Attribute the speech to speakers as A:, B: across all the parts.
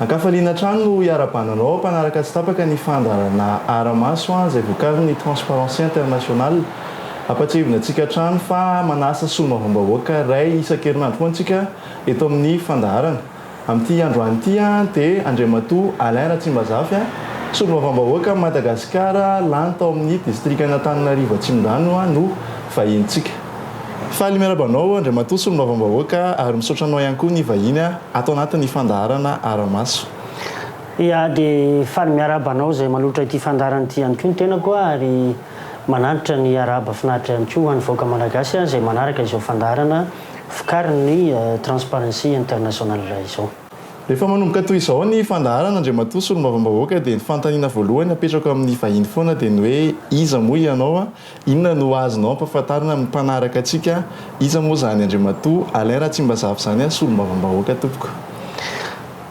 A: An-kafaliana hatrany no iarabananao mpanaraka tsy tapaka ny fandaharana Ara-maso izay vokarin'ny Transparency International. Ampahatsiahivina antsika hatrany fa manasa solombavambahoaka iray isan-kerinandro koa antsika eto amin'ny fandaharana. Amin'ity androany ity dia Andriamatoa Alain Ratsimbazafy, Solombavambahoaka an'i Madagasikara lany tao amin'ny Distrikan'Antananarivo Atsimondrano no vahinintsika. Faly miaraba anao Andriamatoa Solombavambahoaka ary misaotra anao ihany koa ny vahiny ato anatin'ny fandaharana Ara-maso. Ia
B: dia faly miaraba anao izay manohitra ity fandaharana ity ihany koa ny tenako ary manantitra ny arahaba finaritra ihany koa ho an'ny vahoaka Malagasy izay manaraka izao fandaharana vokarin'ny Transparency International izao. Efa manomboka
A: toy izao ny fandaharana Andriamatoa Solombavambahoaka dia ny fanontaniana voalohany apetrako amin'ny vahiny foana dia ny hoe iza moa ianao? inona no azonao ampafantarina amin'ny mpanaraka antsika? iza moa izany Andriamatoa Alain Ratsimbazafy izany Solombavambahoaka tompoko?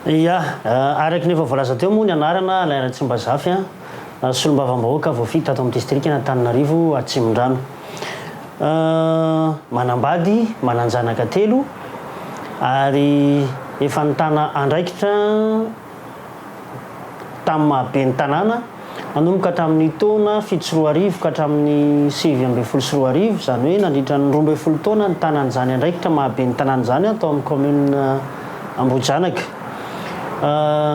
B: Ia, araka ny efa voalaza teo moa ny anarana Alain Ratsimbazafy, Solombavambahoaka voafidy tato amin'ny Distrikan'Antananarivo Atsimondrano. Manambady, manan-janaka telo ary efa nitana andraikitra tamin'ny maha ben'ny tanàna nanomboka tamin'ny taona fito sy roa arivo ka hatramin'ny sivy ambin'ny folo sy roa arivo, izany hoe nandritra ny roa ambin'ny folo taona nitanany izany andraikitra maha ben'ny tanàna izany tao amin'ny kaominina Ambohijanaka.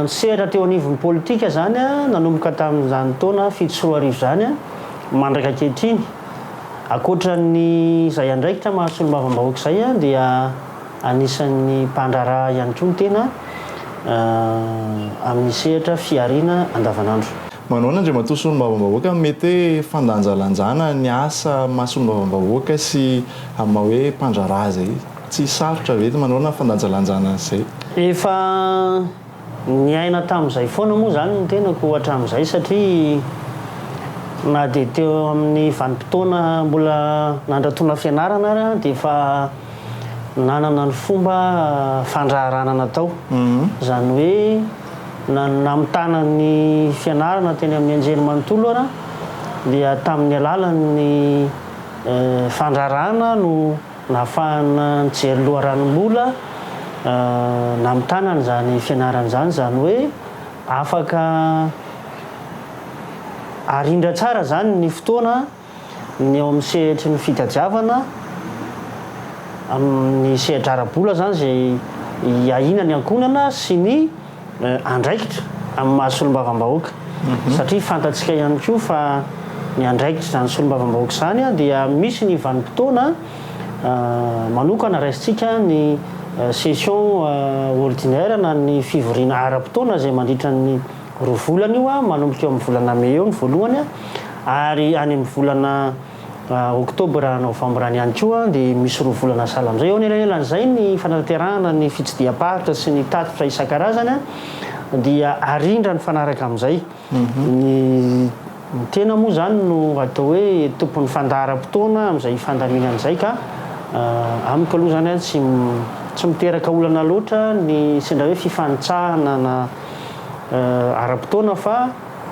B: Nisehatra teo anivon'ny politika izany nanomboka tamin'izany taona fito sy roa arivo izany. Mandraka ankehitriny, ankoatra ny izay andraikitra maha solombavambahoaka izay dia anisan'ny mpandraharaha ihany koa ny tena amin'ny sehatra fihariana andavanandro. Manahoana Andriamatoa
A: Solombavambahoaka, mety hoe fandanjalanjana ny asa maha solombavambahoaka sy amin'ny maha hoe mpandraharaha izay tsy sarotra ve? Manahoana ny fandanjalanjana an'izay? Efa.
B: Niaina tamin'izay foana moa izany ny tenako hatramin'izay satria na dia teo amin'ny vanim-potoana mbola nandratona fianarana ary aho dia efa nanana ny fomba fandraharahana natao. Izany hoe na ny namitana ny fianarana teny amin'ny anjerimanontolo ara dia tamin'ny alalan'ny fandraharahana no Nahafahana nijery loharano mbola namitana an'izany fianarana izany, izany hoe afaka arindra tsara izany ny fotoana ny ao amin'ny sehatry ny fitadiavana amin'ny sehatra ara-bola izany izay iahiana ny ankohonana sy ny andraikitra amin'ny maha solombavambahoaka satria fantatsika ihany koa fa ny andraikitr'izany solombavambahoaka izany dia misy ny vanim-potoana manokana raisintsika ny session ordinaire na ny fivoriana ara-potoana izay mandritra ny roa volana io manomboka eo amin'ny volana mey eo ny voalohany ary any amin'ny volana Oktobra, Novambra any ihany koa dia misy roa volana sahala amin'izay. Eo anelanelan'izay ny fanatanterahana ny fitsidiham-paritra sy ny tatitra isan-karazany dia arindra nifanaraka amin'izay. Ny tena moa izany no atao hoe tompon'ny fandaharam-potoana amin'izay fandaminana izay ka amiko aloha izany tsy tsy miteraka olana loatra ny sendra hoe fifanitsahana na ara-potoana fa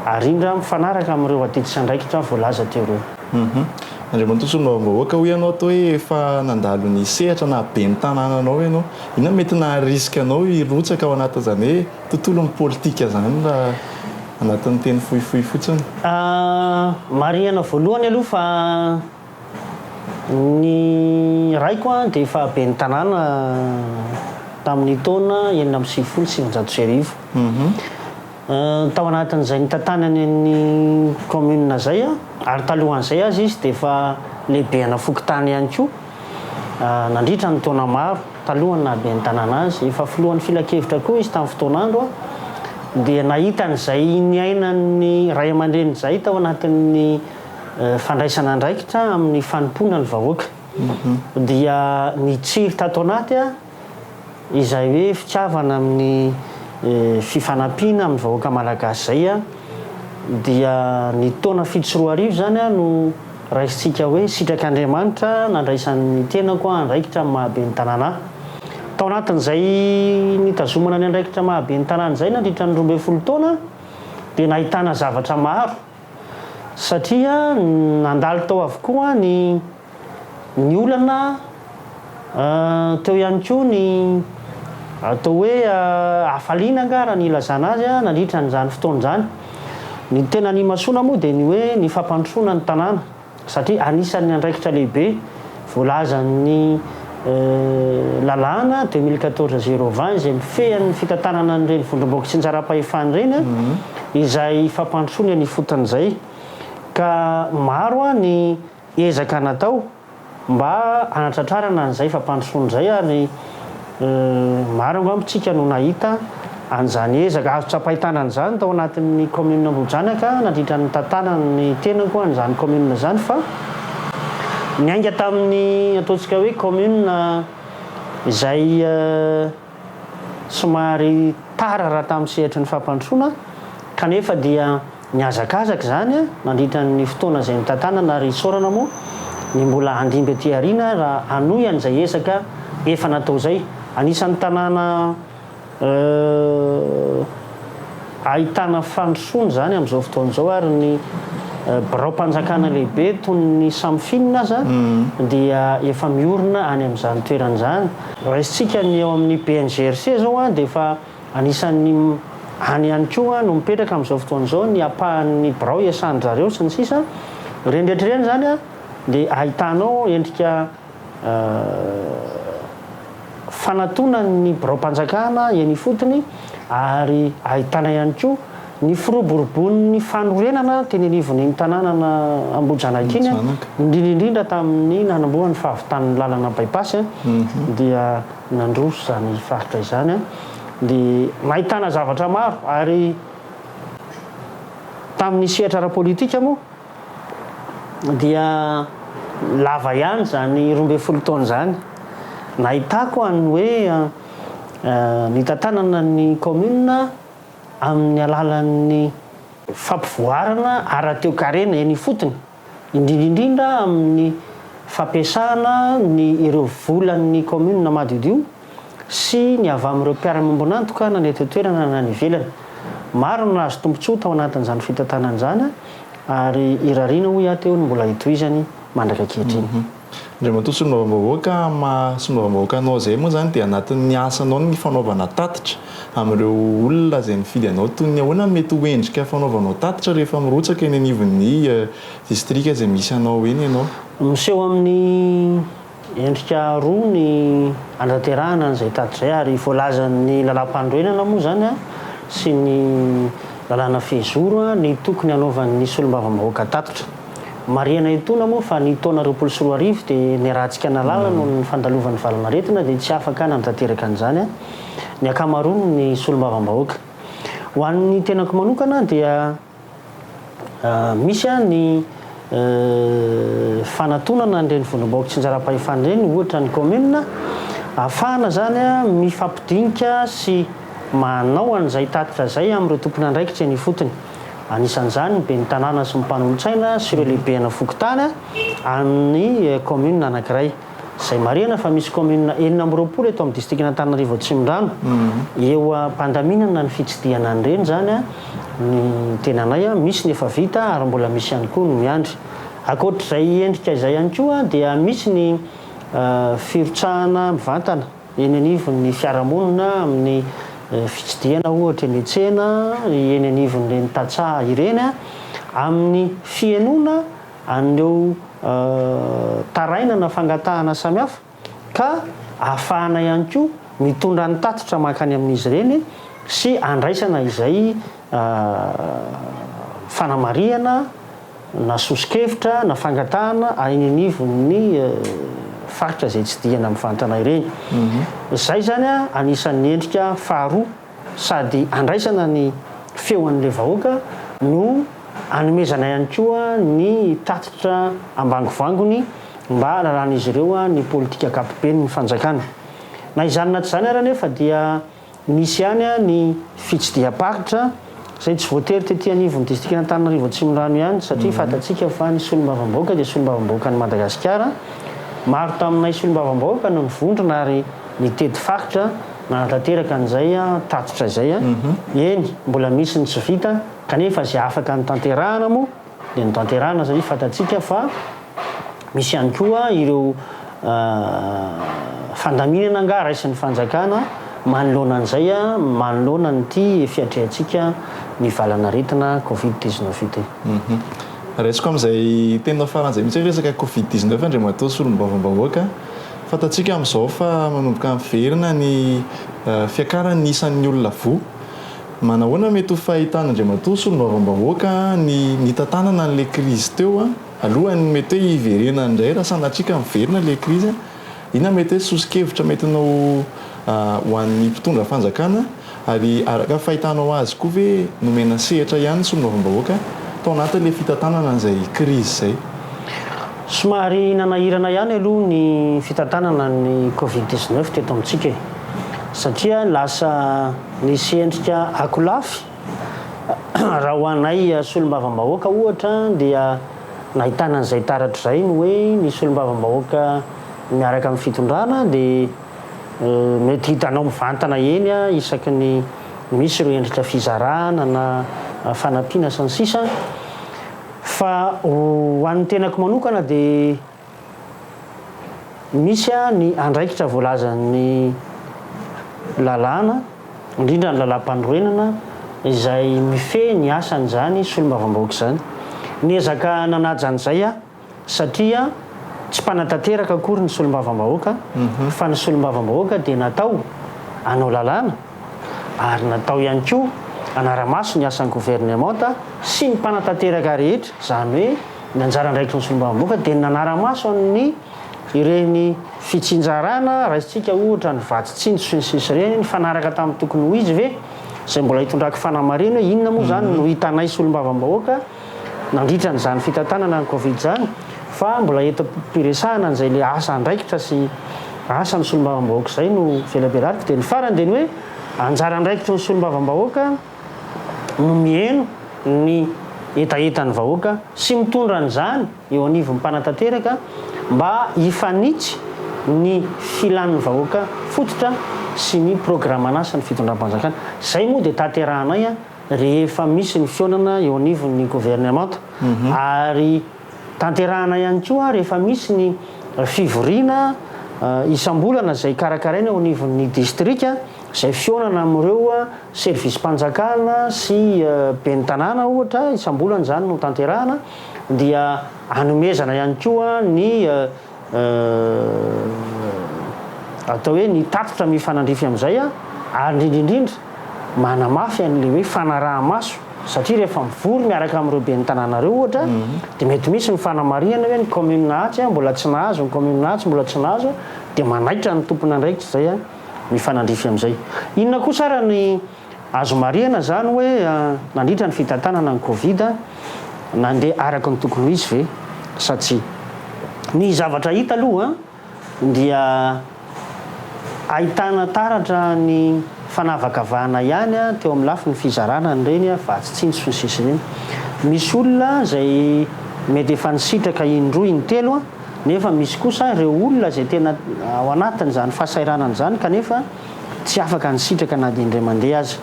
B: Ary indro aho mifanaraka amin'ireo adidin-tsandraikitra voalaza teo ireo. Hum. Andriamatoa
A: Solombavambahoaka, hoy ianao ato hoe efa nandalo ny sehatra na ben'ny tanànanao ianao. Inona no mety naha-risque anao hirotsaka ao anatin'izany hoe tontolon'ny politika izany raha anatin'ny teny fohifohy fotsiny?
B: Marihana voalohany aloha fa ny raiko dia efa ben'ny tanàna tamin'ny taona enina amby sivifolo sy sivinjato sy arivo. Tao anatin'izay nitantanany an'ny kaominina izay ary talohan'izay aza izy dia efa lehibe ana fokontany ihany koa nandritra ny taona maro talohan'ny nahaben'ny tanàna azy. Efa filohan'ny filankevitra koa izy tamin'ny fotoan'andro dia nahita an'izay niainan'ny ray aman-dreny izay tao anatin'ny fandraisana andraikitra amin'ny fanompoana ny vahoaka dia nitsiry tato anaty Izay hoe fitiavana amin'ny fifanampiana amin'ny vahoaka malagasy izay an, dia ny taona fito sy roa arivo izany an no raisintsika hoe sitrak' Andriamanitra nandraisan'ny tenako andraikitra amin'ny maha ben'ny tanàna ahy. Tao anatin'izay nitazomana ny andraikitra maha ben'ny tanàna izay nandritra ny roa ambin'ny folo taona dia nahitana zavatra maro satria nandalo tao avokoa ny Ny olana teo ihany koa ny atao hoe hafaliana angaha raha ny ilazana azy nandritra an'izany fotoana izany. Ny tena nimasoana moa dia ny hoe ny fampandrosoana ny tanàna satria anisan'ny andraikitra lehibe voalazan'ny lalàna deux mille quatorze zéro vingt izay mifehy an'ny fitantanana an'ireny vondrom-boky tsindjaram-pahefana ireny izay fampandrosoana eny ifotony izay ka maro ny Ezaka natao mba hanatratrarana an'izay fampandrosoana izay ary maro angamba tsika no nahita an'izany ezaka azo tsapain-tanana izany tao anatin'ny commune Ambohijanaka nandritra ny nitantanan'ny tenako an'izany commune izany fa niainga tamin'ny ataontsika hoe commune izay somary tara raha tamin'ny sehatry ny fampandrosoana, kanefa dia nihazakazaka izany nandritra ny fotoana izay notantanana ary isaorana moa ny mbola handimby aty aoriana raha hanohy an'izay ezaka efa natao izay. Anisan'ny tanàna. Ahitana fandrosoana izany amin'izao fotoana izao ary ny biraom-panjakana lehibe toy ny Samfin aza dia efa miorina any amin'izany toerana izany. Raisintsika ny eo amin'ny BNGRC izao dia efa anisan'ny any ihany koa no mipetraka amin'izao fotoana izao ny ampahan'ny birao iasan-dry zareo sy ny sisa. Ireny rehetra ireny izany dia ahitanao endrika. fanatonan'ny biraom-panjakana eny ifotony ary ahitana ihany koa ny firoborobon'ny fanorenana teny anivon'iny tanànana Ambohijanaka iny, indrindra indrindra tamin'ny nanombohan'ny fahavitan'ny lalana bypass dia nandroso izany faritra izany dia nahitana zavatra maro ary tamin'ny sehatra ara-politika moa dia lava ihany izany roa ambin'ny folo taona izany. Nahitako an hoe nitantanana ny commune amin'ny alalan'ny fampivoarana ara-toekarena eny ifotony, indrindra indrindra amin'ny fampiasana ny ireo volan'ny commune madiodio, sy ny avy amin'ireo mpiara-miombon'antoka na ny eto an-toerana na any ivelany. Maro no nahazo tombontsoa tao anatin'izany fitantanana izany ary irariana hoy aho teo ny mbola hitohizany mandraka ankehitriny. Andriamatoa
A: Solombavambahoaka, amin'ny maha Solombavambahoaka anao izay moa izany dia anatin'ny asanao ny fanaovana tatitra amin'ireo olona izay nifidy anao. Toy ny ahoana no mety ho endrika fanaovanao tatitra rehefa mirotsaka eny anivon'ny distrika izay misy anao eny ianao? Miseho amin'ny.
B: Endrika roa ny andraterahana an'izay tady izay ary voalazan'ny lalàmpanorenana moa izany sy ny lalàna fehizoro ny tokony hanaovan'ny solombavambahoaka tatitra. Marihana etoana moa fa ny taona roapolo sy roa arivo dia niarahantsika nalala noho ny fandalovan'ny valanaretina dia tsy afaka nanatanteraka an'izany ny ankamaroan'ny solombavambahoaka. Ho an'ny tenako manokana dia. Misy ny fanatonana an'ireny vondrom-bahoaka tsinjaram-pahefana ireny, ohatra ny kaominina, ahafahana izany mifampidinika sy manao an'izay tatitra izay amin'ireo tompon'andraikitra eny ifotony. Anisan'izany ny ben'ny tanàna sy ny mpanolotsaina sy ireo lehibena fokontany amin'ny kaominina anankiray. izay marihana fa misy kaominina enina amby roapolo eto amin'ny distrikan'Antananarivo Atsimondrano eo am-pandaminana ny fitsidihana an'ireny izany ny tenanay misy ny efa vita ary mbola misy ihany koa ny miandry. Ankoatr'izay endrika izay ihany koa dia misy ny firotsahana mivantana eny anivon'ny fiarahamonina amin'ny fitsidihana ohatra eny an-tsena, eny anivon'ireny tantsaha ireny amin'ny fihenoana an'ireo tarainana fangatahana samihafa ka ahafahana ihany koa mitondra ny tatitra mankany amin'izy ireny sy andraisana izay fanamarihana na soso-kevitra na fangatahana any anivon'ny faritra izay tsidihana mivantana ireny. Izay izany anisan'ny endrika faharoa. sady andraisana ny feon'ilay vahoaka no anomezana ihany koa ny tatitra ambangovangony mba hahalalan'izy ireo ny politika ankapoben'ny fanjakana. Na izany na tsy izany ary anefa dia misy ihany ny fitsidiham-paritra, izay tsy voatery tety anivon'ny distrikan'Antananarivo Atsimondrano ihany satria fantatsika fa ny solombavambahoaka dia solombavambahoakan'i Madagasikara, maro taminay solombavambahoaka no nivondrona ary nitety faritra nanatanteraka an'izay tatitra izay, eny mbola misy ny tsy vita kanefa izay afaka notanterahana moa dia notanterahina satria fantatsika fa misy ihany koa ireo fandaminana angaha raisin'ny fanjakana manoloana an'izay, manoloana an'ity fiatrehantsika ny valan'aretina covid dix neuf ity. Raisiko
A: amin'izay teninao farany izay mihitsy hoe resaka covid dix neuf Andriamatoa Solombavambahoaka, fantatsika amin'izao fa manomboka miverina ny fiakaran'ny isan'ny olona voa, Manahoana mety ho fahitan' Andriamatoa Solombavambahoaka ny nitantanana an'ilay krizy teo alohan'ny mety hoe hiverenany indray raha sanatria ka miverina ilay krizy? Inona mety hoe soso-kevitra metinao ho an'ny mpitondra fanjakana? Ary araka ny fahitanao azy koa ve nomena sehatra ihany ny Solombavambahoaka tao anatin'ilay fitantanana an'izay krizy izay?
B: Somary nanahirana ihany aloha ny fitantanana ny Covid dix-neuf teto amintsika e. Satria lasa. Nisy endrika akolafy, raha ho anay solombavambahoaka ohatra dia nahitana an'izay taratra izay ny hoe ny solombavambahoaka miaraka amin'ny fitondrana dia mety hitanao mivantana eny isaky ny misy ireo endrika fizarana na fanampiana sy ny sisa fa ho an'ny tenako manokana dia Misy ny andraikitra voalazan'ny lalàna, indrindra ny lalàmpanorenana, izay mifehy ny asan'izany solombavambahoaka izany. Niezaka nanaja an'izay aho satria tsy mpanatanteraka akory ny solombavambahoaka fa ny solombavambahoaka dia natao hanao lalàna ary natao ihany koa hanara-maso ny asan'ny governemanta sy ny mpanatanteraka rehetra, izany hoe. Ny anjara andraikitry ny solombavambahoaka dia ny nanara-maso an'ny ireny fitsinjarana, raisintsika ohatra ny vatsy tsinjo sy ny sisa ireny, nifanaraka tamin'ny tokony ho izy ve? izay mbola hitondrako fanamarihana hoe inona moa izany no hitanay solombavambahoaka nandritra an'izany fitantanana ny covid izany fa mbola eto am-piresahana an'izay ilay asa andraikitra sy asa ny solombavambahoaka izay no velabelariko dia ny farany dia ny hoe anjara andraikitry ny solombavambahoaka no miheno ny hetahetan'ny vahoaka sy mitondra an'izany eo anivon'ny mpanatanteraka mba hifanitsy ny filan'ny vahoaka fototra sy ny programan'asan'ny fitondram-panjakana. Izay moa dia tanterahanay rehefa misy ny fihaonana eo anivon'ny governemanta ary. Tanterahana ihany koa rehefa misy ny fivoriana isam-bolana izay karakaraina eo anivon'ny distrika izay fihaonana amin'ireo servisim-panjakana sy ben'ny tanàna ohatra, isam-bolana izany no tanterahana, dia anomezana ihany koa ny. atao hoe ny tatitra mifanandrify amin'izay ary indrindra indrindra manamafy an'ilay hoe fanaraha-maso satria rehefa mivory miaraka amin'ireo ben'ny tanàna ireo ohatra dia mety misy ny fanamarihana hoe ny commune Atsy mbola tsy nahazo, ny commune Atsy mbola tsy nahazo dia manaitra ny tompon'andraikitra izay mifanandrify amin'izay. Inona kosa ary ny. Azo marihana izany hoe nandritra ny fitantanana ny Covid, nandeha araka ny tokony ho izy ve sa tsia? Ny zavatra hita aloha dia ahitana taratra ny fanavakavahana ihany teo amin'ny lafiny fizarana an'ireny vatsy tsy intsony sisa ireny. Misy olona izay mety efa nisitraka indroa intelo nefa misy kosa ireo olona izay tena ao anatin'izany fahasahiranana izany kanefa tsy afaka ny sitraka na dia indray mandeha aza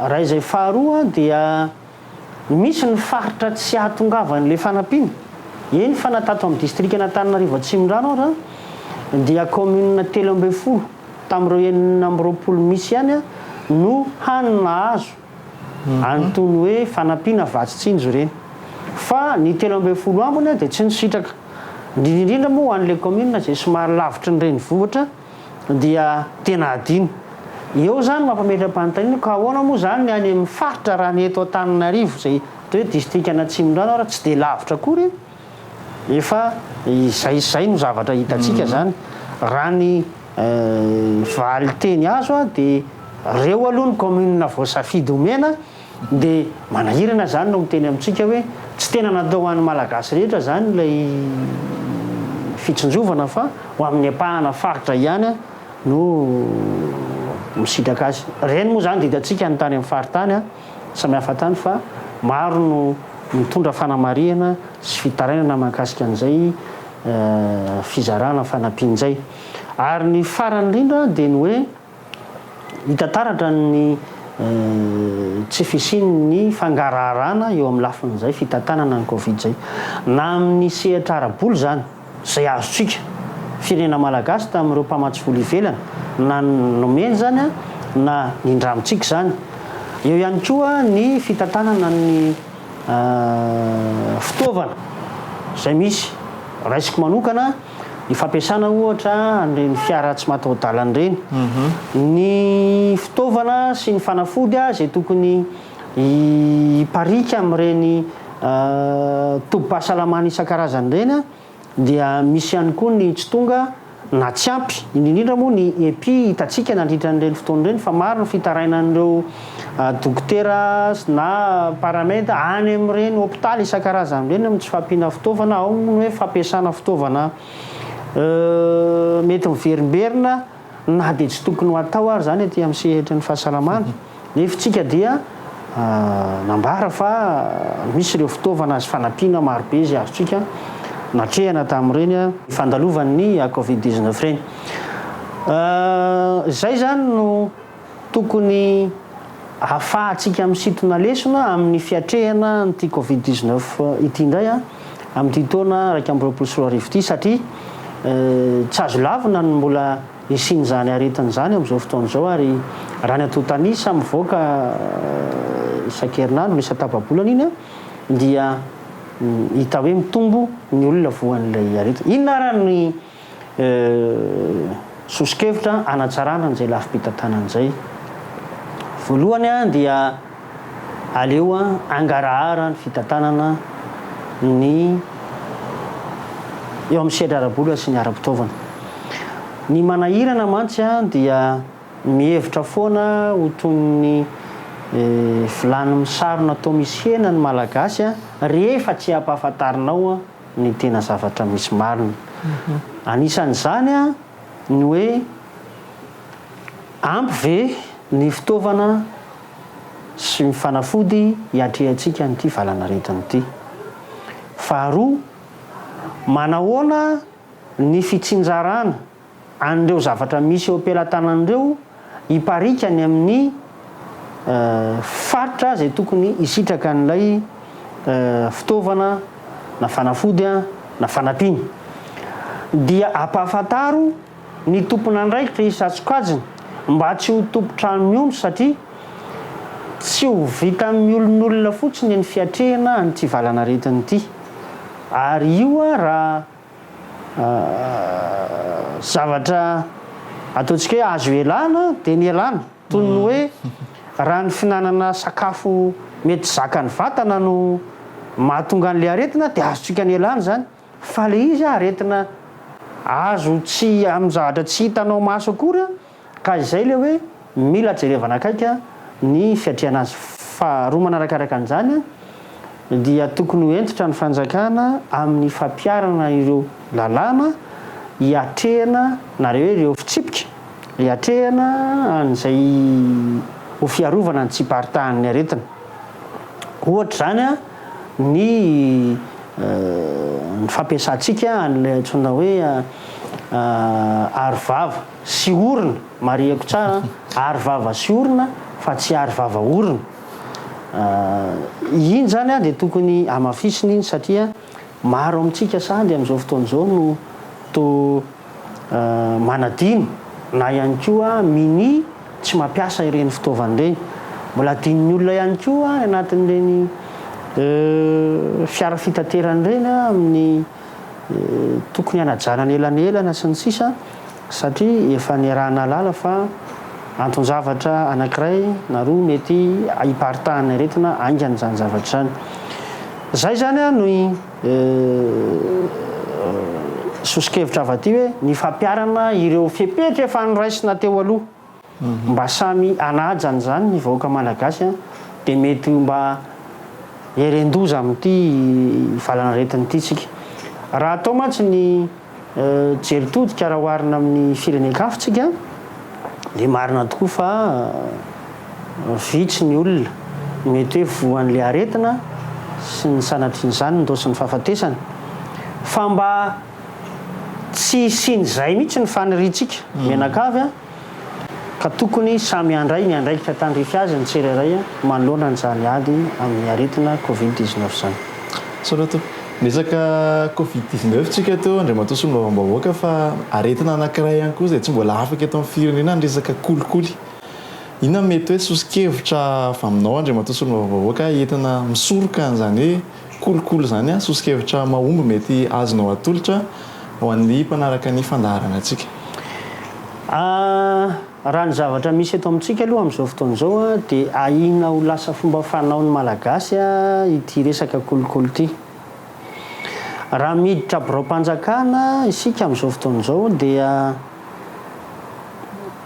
B: iray izay faharoa dia misy ny faritra tsy ahatongavan'ilay fanampiana eny fa na tato amin'ny distrikan'Antananarivo Atsimondrano aza dia kaominina telo ambin'ny folo tamin'ireo enina amby roapolo misy ihany no hany nahazo Antony hoe fanampiana vatsy tsinjo ireny. Fa ny telo ambin'ny folo ambiny dia tsy nisitraka. Indrindra indrindra moa ho an'ilay kaominina izay somary lavitry ny renivohitra dia tena adino. Eo izany mampametra-panontaniana ka ahoana moa izany ny any amin'ny faritra raha ny eto Antananarivo izay atao hoe distrikan'Atsimondrano ary tsy dia lavitra akory Efa izay izay no zavatra hitantsika izany, raha ny valinteny azo dia reo aloha ny commune voasafidy homena dia manahirana izany no miteny amintsika hoe tsy tena natao ho an'ny Malagasy rehetra izany ilay fitsinjovana fa ho amin'ny ampahana faritra ihany no misitraka azy. Ireny moa izany dia hitantsika any tany amin'ny faritany. Samihafa hatrany fa maro no mitondra fanamarihana sy fitarainana mahakasika an'izay fizarana fanampiana izay. Ary ny farany indrindra dia ny hoe hita taratra ny tsy fisian'ny fangaraharana eo amin'ny lafin'izay fitantanana ny Covid izay. Na amin'ny sehatra ara-bola izany. izay azontsika, firenena malagasy tamin'ireo mpamatsy vola ivelany, na nomeny izany na nindramintsika izany. Eo ihany koa ny fitantanana ny fitaovana izay misy. Raisiko manokana ny fampiasana ohatra an'ireny fiara tsy mataho-dalana ireny. Ny fitaovana sy ny fanafody izay tokony. Hipariaka amin'ireny tobim-pahasalamana isan-karazany ireny dia misy ihany koa ny tsy tonga na tsy ampy, indrindra indrindra moa ny epi hitantsika nandritra an'ireny fotoana ireny fa maro ny fitarainan'ireo dokotera na paramed any amin'ireny hopitaly isan-karazany ireny amin'ny tsy fampiana fitaovana, ao ny hoe fampiasana fitaovana mety miverimberina. Na dia tsy tokony ho atao ary izany aty amin'ny sehatry ny fahasalamana, ny hefintsika dia nambara fa misy ireo fitaovana sy fanampiana marobe izay azontsika natrehana tamin'ireny fandalovan'ny covid dix-neuf ireny. Izay izany no. Tokony hahafahantsika misintona lesona amin'ny fiatrehana an'ity Covid dix neuf ity indray amin'ity taona iraika amby roapolo sy roa arivo ity satria tsy azo lavina ny mbola hisian'izany aretina izany amin'izao fotoana izao ary raha ny antontan'isa mivoaka isan-kerinandro na isan-tapa-bolana iny dia hita hoe mitombo ny olona voan'ilay aretina. Inona ary ny Soso-kevitra hanatsarana an'izay lafim-pitantanana izay. Voalohany dia aleo hangarahara ny fitantanana ny eo amin'ny sehatra ara-bola sy ny ara-pitaovana. Ny manahirana mantsy dia mihevitra foana ho toy ny vilany misarona toa misy hena ny Malagasy rehefa tsy ampahafantarinao ny tena zavatra misy marina. Anisan'izany ny hoe ampy ve ny fitaovana sy ny fanafody hiatrehantsika an'ity valanaretina ity. Faharoa, manahoana ny fitsinjarana. an'ireo zavatra misy eo am-pelatanany ireo hipariaka any amin'ny faritra izay tokony hisitraka an'ilay fitaovana na fanafody na fanampiana. Dia ampahafantaro ny tompon'andraikitra isan-tsokajiny mba tsy ho tompon-trano miondry satria tsy ho vitan'ny miolonolona fotsiny ny fiatrehana an'ity valanaretina ity ary io raha Zavatra ataontsika hoe azo ialana dia nialana, toy ny hoe raha ny fihinanana sakafo mety zakan'ny vatana no mahatonga an'ilay aretina dia azontsika nialana izany, fa ilay izy aretina azo tsy amin'ny zavatra tsy hitanao maso akory an! Ka izay ilay hoe mila jerevana akaiky ny fiatrehana azy. Faharoa manarakaraka an'izany dia tokony ho hentitra ny fanjakana amin'ny fampiharana ireo lalàna hiatrehana na re hoe ireo fitsipika hiatrehana an'izay ho fiarovana ny tsy hiparitahan'ny aretina. Ohatra izany ny ny fampiasantsika an'ilay antsoina hoe aro vava. sy orona, mariheko tsara an, aro vava sy orona fa tsy aro vava orona, iny zany an dia tokony hamafisina iny satria maro amintsika sady amin'izao fotoana izao no toa manadino na ihany koa minia tsy mampiasa ireny fitaovana ireny, mbola adinon'ny olona ihany koa any anatin'ireny fiara fitaterana ireny an amin'ny. tokony hanajanany elanelana sy ny sisa satria efa niaraha-nahalala fa anton-javatra anankiray na roa mety hiparitahan'ny aretina haingana izany zavatra izany. Izay izany an no sosokevitra avy aty hoe ny fampiharana ireo fepetra efa noraisina teo aloha. mba samy hanaja an'izany ny vahoaka malagasy an, dia mety ho mba heren-doza amin'ity valan'aretina ity tsika. Raha atao mantsy ny jery todika raha oharina amin'ny firenen-kafa tsika dia marina tokoa fa vitsy ny olona mety hoe voan'ilay aretina sy ny sanatrian'izany ny raosin'ny fahafatesana. Fa mba. Tsy hisian'izay mihitsy ny faniriantsika mianakavy ka tokony samy handray ny andraikitra tandrify azy ny tsirairay manoloana an'izany ady amin'ny aretina covid dix-neuf izany. Sorato. Niresaka
A: covid dix-neuf tsika teo Andriamatoa Solombavambahoaka fa aretina anankiray ihany koa izay tsy mbola afaka eto amin'ny firenena ny resaka kolikoly. Inona no mety hoe soso-kevitra avy aminao Andriamatoa Solombavambahoaka entina misoroka an'izany hoe Kolikoly izany soso-kevitra mahomby mety azonao atolotra ho an'ny mpanaraka ny fandaharanantsika?
B: Raha ny zavatra misy eto amintsika aloha amin'izao fotoana izao dia ahiana ho lasa fomba fanaon'ny Malagasy ity resaka kolikoly ity. Raha miditra biraom-panjakana isika amin'izao fotoana izao dia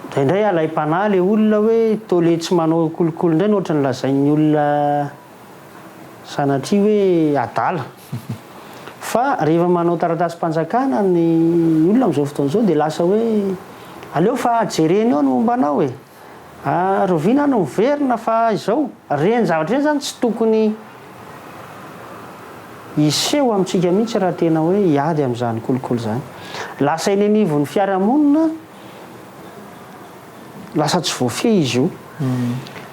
B: indraindray alaim-panahy ilay olona hoe toa le tsy manao kolikoly indray ny ohatran'ny lazain'ny olona Sanatria hoe adala. Fa rehefa manao taratasim-panjakana ny olona amin'izao fotoana izao dia lasa hoe aleo fa jereny eo ny momba anao e! rahoviana no miverina fa izao? Ireny zavatra ireny izany tsy tokony hiseho amintsika mihitsy raha tena hoe hiady amin'izany kolikoly izany. Lasa eny anivon'ny fiarahamonina. Lasa tsy voafehy izy io.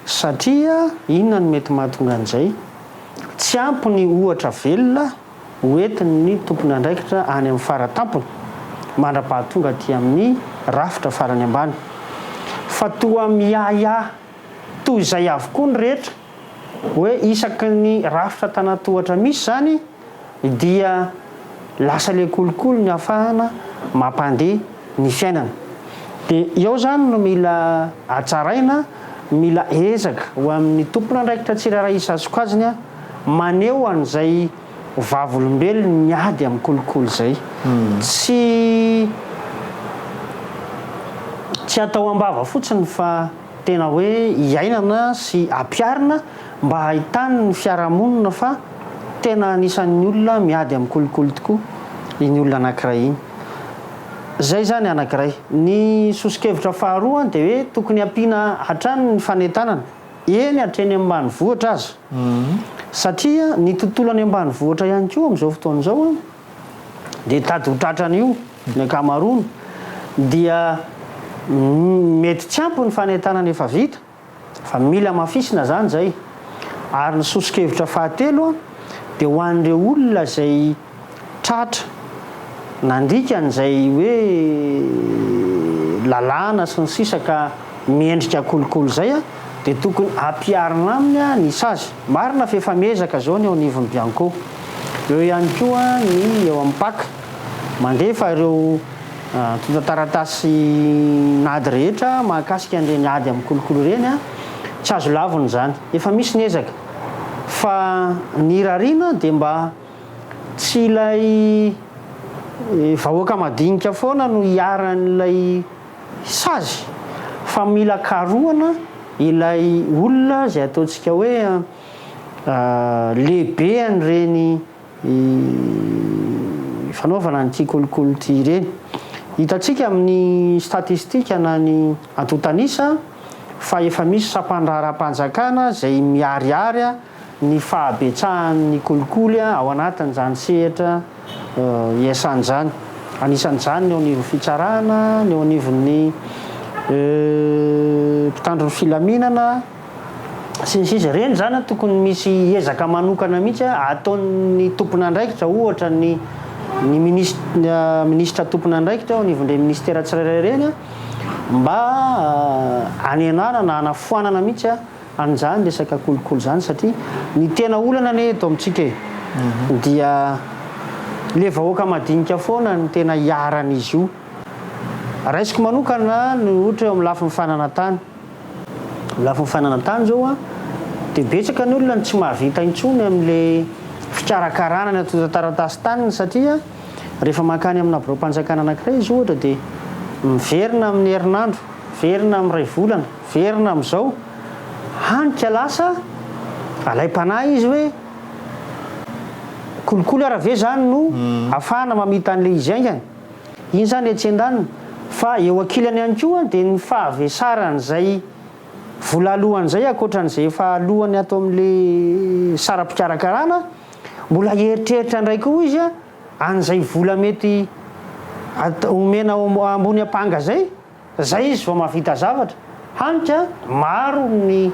B: Satria inona no mety mahatonga an'izay? Tsy ampy ny ohatra velona hoentin'ny tompon'andraikitra any amin'ny fara-tampony, mandra-pahatonga aty amin'ny rafitra farany ambany, fa toa miahiahy toy izay avokoa ny rehetra, hoe isaky ny rafitra an-tanan-tohatra misy izany dia lasa ilay kolikoly ny hafahana mampandeha ny fiainana. Dia eo izany no mila hatsaraina, mila ezaka ho amin'ny tompon'andraikitra tsirairay isasokajiny maneho an'izay vavolombelony miady amin'ny kolikoly izay. Tsy tsy atao am-bava fotsiny fa. Tena hoe iainana sy ampiharina mba hahitan ny fiarahamonina fa tena anisan ny olona miady amin'ny kolikoly tokoa iny olona anakiray iny. Izay izany anakiray. Ny soso-kevitra faharoa dia hoe tokony hampiana hatrany ny fanentanana, eny hatreny amin'ny ambanivohitra aza. Satria ny tontolo any ambanivohitra ihany koa amin'izao fotoana izao dia tady ho tratrany io ny ankamaroany dia mety tsy ampy ny fanentanana efa vita fa mila hamafisina izany izay ary ny soso-kevitra fahatelo dia ho an'ireo olona izay tratra nandikany izay hoe lalàna sy ny sisa ka miendrika kolikoly izay dia tokony ampiharina aminy ny sazy Marina fa efa miezaka izao ny eo anivon'ny Bianco. Eo ihany koa ny eo amin'ny pac. Mandefa ireo antontan-taratasin'ady rehetra mahakasika an'ireny ady amin'ny kolikoly ireny. Tsy azo lavina izany. Efa misy ny ezaka. Fa ny irariana dia mba tsy ilay vahoaka madinika foana no iharan'ilay. Sazy fa mila karohana ilay olona izay ataontsika hoe lehibehan'ireny fanaovana an'ity kolikoly ity ireny. Hitantsika amin'ny statistika na ny antontan'isa fa efa misy sampandraharaham-panjakana izay miharihary ny fahabetsahan' ny kolikoly ao anatin' izany sehatra iasany izany. Anisan' izany ny eo anivon'ny fitsarana, ny eo anivon' ny mpitandro ny filaminana, sy ny sisa Ireny izany tokony misy ezaka manokana mihitsy ataon' ny tompon' andraikitra, ohatra ny ny minisitra minisitra tompon' andraikitra eo anivon' ireny minisitera tsirairay ireny mba hanenana na hanafoanana mihitsy Any izany resaka kolikoly izany satria ny tena olana anie eto amintsika e, dia le vahoaka madinika foana no tena iharan'izy io. Raisiko manokana ny ohatra eo amin'ny lafiny fananantany. Amin'ny lafiny fananantany izao an, dia betsaka ny olona no tsy mahavita intsony amin'le fikarakarana ny antontan-taratasy taniny satria rehefa mankany amina biraom-panjakana anankiray izy ohatra dia miverina amin'ny herinandro, miverina amin'ny iray volana. Verina amin'izao, hany ka lasa alaim-panahy izy hoe kolikoly ara ve izany no afahana mamita an'ilay izy haingana. Iny izany etsy an-daniny. Fa eo ankilany ihany koa dia ny fahavesaran'izay vola alohany izay ankoatran'izay efa alohany ato amin'ilay saram-pikarakarana, mbola hieritreritra indray koa izy an'izay vola mety omena ambony ampanga izay. Zay izy vao mahavita zavatra. Hany ka maro ny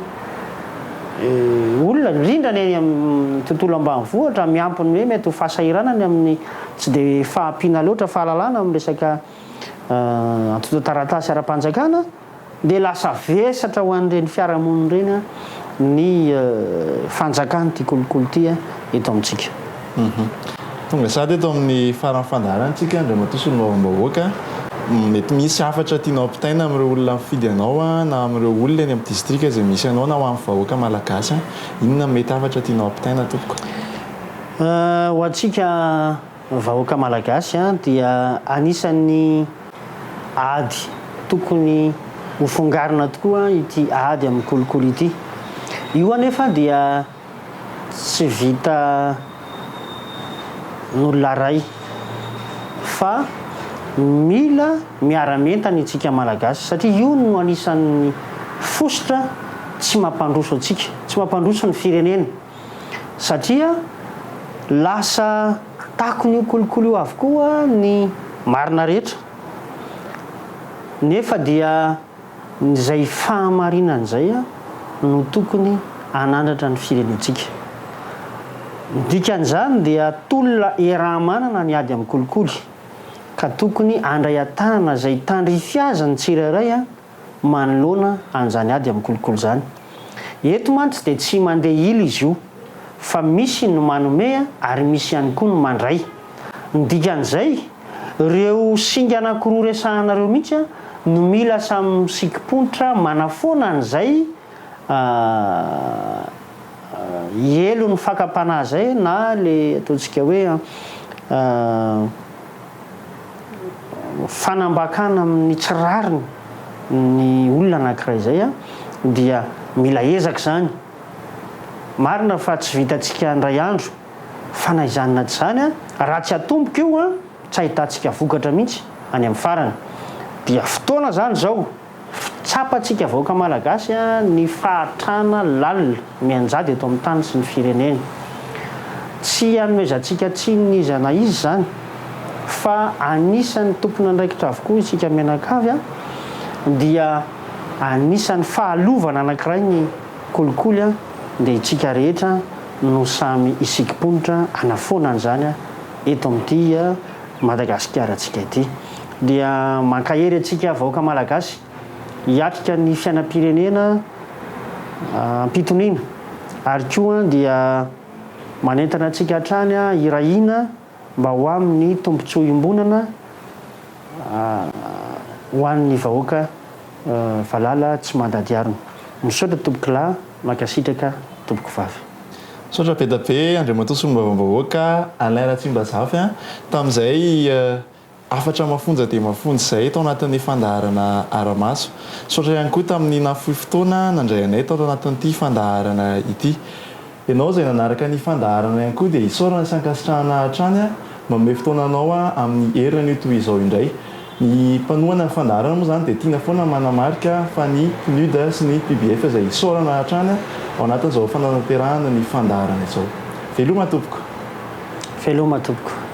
B: olona, indrindra ny any amin'ny tontolo ambanivohitra, miampy ny hoe mety ho fahasahiranany amin'ny tsy dia fahampiana loatra fahalalana amin'ny resaka antontan-taratasy ara-panjakana, dia lasa vesatra ho an'ireny fiarahamonina ireny ny fanjakan'ity kolikoly ity eto amintsika.
A: Tonga sahady eto amin'ny faran'ny fandaharantsika Andriamatoa Solombavambahoaka, mety misy hafatra tianao ampitaina amin'ireo olona mifidy anao na amin'ireo olona eny amin'ny distrika izay misy anao na ho an'ny vahoaka malagasy, inona no mety hafatra tianao ampitaina tompoko?
B: Ho antsika vahoaka malagasy dia anisan'ny ady tokony hofongarina tokoa ity ady amin'ny kolikoly ity. Io anefa dia. Tsy vita n'olona ray fa mila miara-mientana itsika Malagasy satria io no anisan'ny fositra tsy mampandroso antsika, tsy mampandroso ny firenena satria lasa takon'io kolikoly io avokoa ny marina rehetra nefa dia. Izay fahamarinana izay no tokony hanandratra ny firenentsika. Ny dikan'izany dia tolona iaraha-manana ny ady amin'ny kolikoly, ka tokony handray an-tanana izay tandrify azy ny tsirairay manoloana an'izany ady amin'ny kolikoly izany. Eto mantsy dia tsy mandeha ila izy io, fa misy ny manome ary misy ihany koa ny mandray. Ny dikan'izay. Ireo singa anankiroa resahanareo mihitsy no mila samy misikim-ponitra manafoana an'izay helo ny fakam-panahy izay na ilay ataontsika hoe fanambakana amin'ny tsy rariny ny olona anankiray izay dia mila ezaka izany. Marina fa tsy vitantsika indray andro. Fa na izany na tsy izany, raha tsy atomboka io, tsy ahitantsika vokatra mihitsy any amin'ny farany. Dia fotoana izany izao tsapantsika vahoaka Malagasy ny fahatrana lalina mianjady eto amin'ny tany sy ny firenena. Tsy hanomezantsika tsiny n'iza na iza izany fa anisan'ny tompon'andraikitra avokoa isika mianakavy dia anisan'ny fahalovana anankiray ny Kolikoly a, dia itsika rehetra no samy hisikimponitra hanafoana an'izany eto amin'ity Madagasikaratsika ity. Dia mankahery antsika vahoaka Malagasy hiatrika ny fiainam-pirenena am-pitoniana ary koa dia manentana antsika hatrany hiray hina, mba ho amin'ny tombontsoa iombonana ho an'ny vahoaka valala tsy mandady harona. Misaotra tompoko lahy, mankasitraka tompoko vavy. Misaotra bedabe
A: Andriamatoa Solombavambahoaka Alain Ratsimbazafy an, tamin'izay. Hafatra mafonja dia mafonja izahay tao anatin'ny fandaharana Aramaso. Misaotra ihany koa tamin'ny nahafoy fotoana nandray anay tao anatin'ity fandaharana ity. Ianao izay nanaraka ny fandaharana ihany koa dia isaorana sy ankasitrahana hatrany manome fotoananao amin'ny herin'io toy izao indray. Ny mpanohana ny fandaharana moa izany dia tiana foana manamarika fa ny PNUD sy ny PBF izay isaorana hatrany ao anatin'izao fanatanterahana ny fandaharana
B: izao.
A: Veloma tompoko! Veloma tompoko!